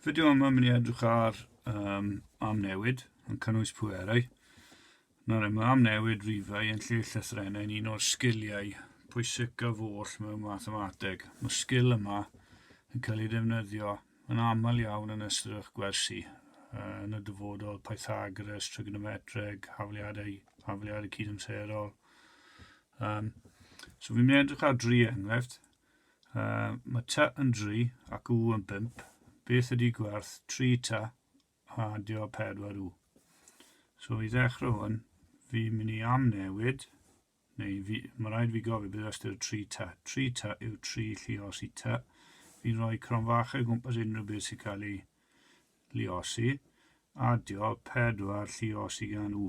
Fideo yma mynd i edrych ar um, amnewid yn cynnwys pwerau. Nawr mae amnewid rifau yn lle llythrennau yn un o'r sgiliau pwysicaf oll mewn mathemateg. Mae'r sgil yma yn cael ei defnyddio yn aml iawn yn ystod eich gwersi uh, yn y dyfodol Pythagoras, trigonometreg, hafliadau, hafliadau cydamserol. Um, so fi'n mynd i edrych ar dri enghraifft. Uh, mae ta yn dri ac u yn bimp. Beth ydy gwerth tri ta a dio pedwar u? So i ddechrau hwn, fi mynd i amnewid, neu fi, mae rhaid fi gofio bydd ystyr tri ta. Tri ta yw tri lliosi ta. Fi'n rhoi cronfachau o gwmpas unrhyw beth sy'n cael ei lliosi. Adio pedwar lliosi gan u.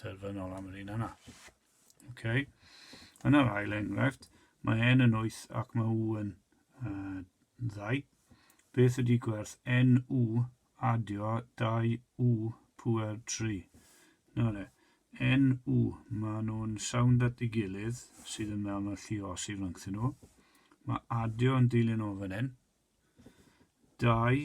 terfynol am yr un yna. Okay. Yn yr ail enghraifft, mae n yn 8 ac mae u yn uh, 2. Beth ydy gwerth n u adio 2 u pwer 3? Nawr e, n u, mae nhw'n sawnd at ei gilydd sydd yn mewn o'r lliosi rhyngthyn nhw. Mae adio yn dilyn o fan hyn. 2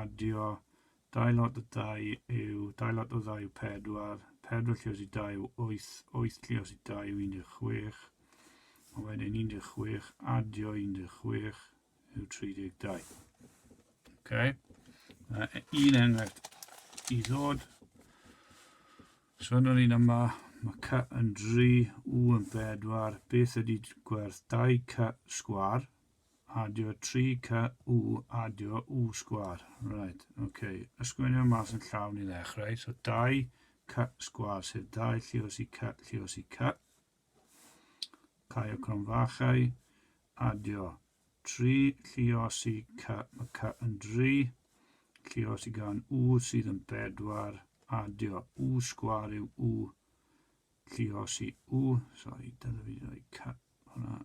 Adio, Dau lot o dau yw dau lot o ddau yw pedwar, pedwar llios i dau yw wyth, wyth llios i dau yw 16, a wedyn 16 adio 16 yw 32. Okay. Uh, un enghraifft i ddod. So yn yr un yma, mae cy yn 3, u yn 4. Beth ydy gwerth 2 cy sgwar? Adio 3 ca u adio u sgwar. Right, oce. Okay. Ysgrifennu mas yn llawn i ddechrau. So 2 ca sgwar, sef 2 llios i ca, llios i ca. Cau o cronfachau. Adio 3 llios i ca, mae ca yn 3. Llios i gan u sydd yn 4. Adio u sgwar yw u llios i u. Sorry, dyna fi wedi rhoi ca hwnna.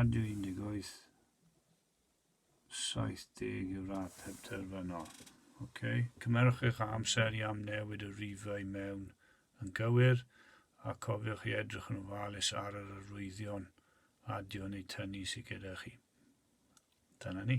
Ond yw 18, 70 yw'r ateb terfynol. Ok, cymerwch eich amser i amnewid y rifau mewn yn gywir, a cofiwch i edrych yn ofalus ar yr arwyddion adio neu tynnu sydd gyda chi. Dyna ni.